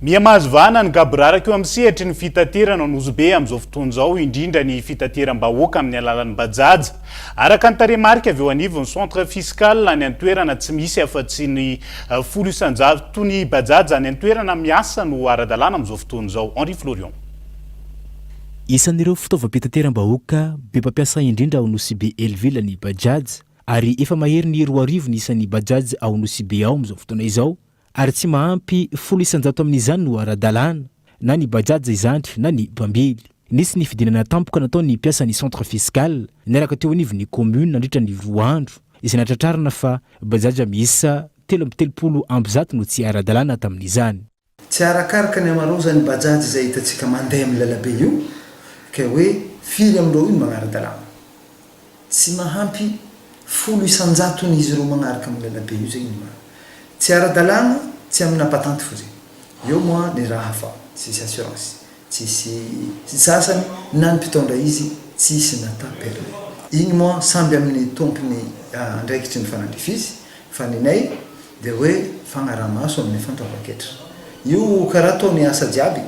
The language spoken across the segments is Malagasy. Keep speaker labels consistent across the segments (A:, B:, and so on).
A: Miha-mahazo vahana ny gaboraraka eo amin'ny sehatry ny fitaterana ao Nosy-Be amin'izao fotoana izao, indrindra ny fitateram-bahoaka amin'ny alalan'ny Bajaj. Araka ny tarehimarika avy eo anivon'ny Centre Fiscal any an-toerana, tsy misy afa-tsy ny folo isan-jato ny Bajaj any an-toerana miasa no ara-dalàna amin'izao fotoana izao. Henri Florion. Isan'ireo
B: fitaovam-pitateram-bahoaka be mpampiasa indrindra ao Nosy-Be Helleville ny Bajaj, ary efa mahery ny roa arivo ny isan'ny Bajaj ao Nosy-Be ao amin'izao fotoana izao, ary tsy mahampy folo isan-jato amin'izany no ara-dalàna, na ny Bajaj izany na ny mpambily. Nisy ny fidinana tampoka nataon'ny mpiasan'ny centre fiscal niaraka teo anivon'ny commune nandritra ny roa andro, izay nahatratrarana fa Bajaj miisa telo amby telopolo amby zato no tsy ara-dalàna tamin'izany. Tsy arakaraka
C: ny amarao izany Bajaj izay hitantsika mandeha amin'ny lalabe io, ka hoe firy amin'ireo io no manara-dalàna. Tsy mahampy folo isan-jaton'izy ireo magnaraka amin'ny lalabe io zegny ny marina. Tsy ara-dalàna, tsy amina patente fô zegny. Eo moa ny raha fa tsisy assurance, tsisy sasany na ny mpitondra izy tsisy nata permis. Igny moa samby amin'ny tompony andraikitry ny fanandrify izy fa ny anay dia hoe fagnaraha-maso amin'ny fantaovan-ketra. Io karaha ataony asa jiaby,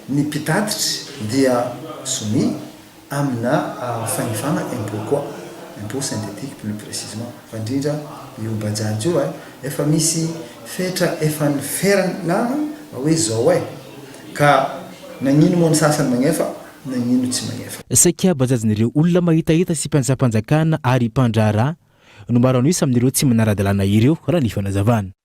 C: ny mpitatitry dia soumis, amina fanovana impôt koa, impôt synthétique plus précisement, fa indrindra io bajaj io eh, efa misy fetra efa niferana fa hoe zao eh, ka nagnino moa ny sasany magnefa, nagnino tsy magnefa. Saika bajajin'ireo
B: olona mahitahita sy mpiantsampanjakana ary mpandraharaha no maro an'isa amin'ireo tsy manara-dalàna ireo, raha ny fanazavana.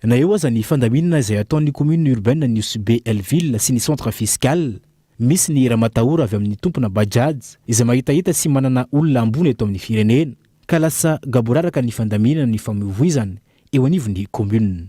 C: Na eo aza ny fandaminana
B: izay ataon'ny commune urbaine an'i Nosy Be L-ville sy ny centre fiscal, misy ny ramatahora avy amin'ny tompona Bajaj izay mahitahita sy manana olona ambony eto amin'ny firenena, ka lasa gaboraraka ny fandaminana ny famoivoizana eo anivon'ny commune.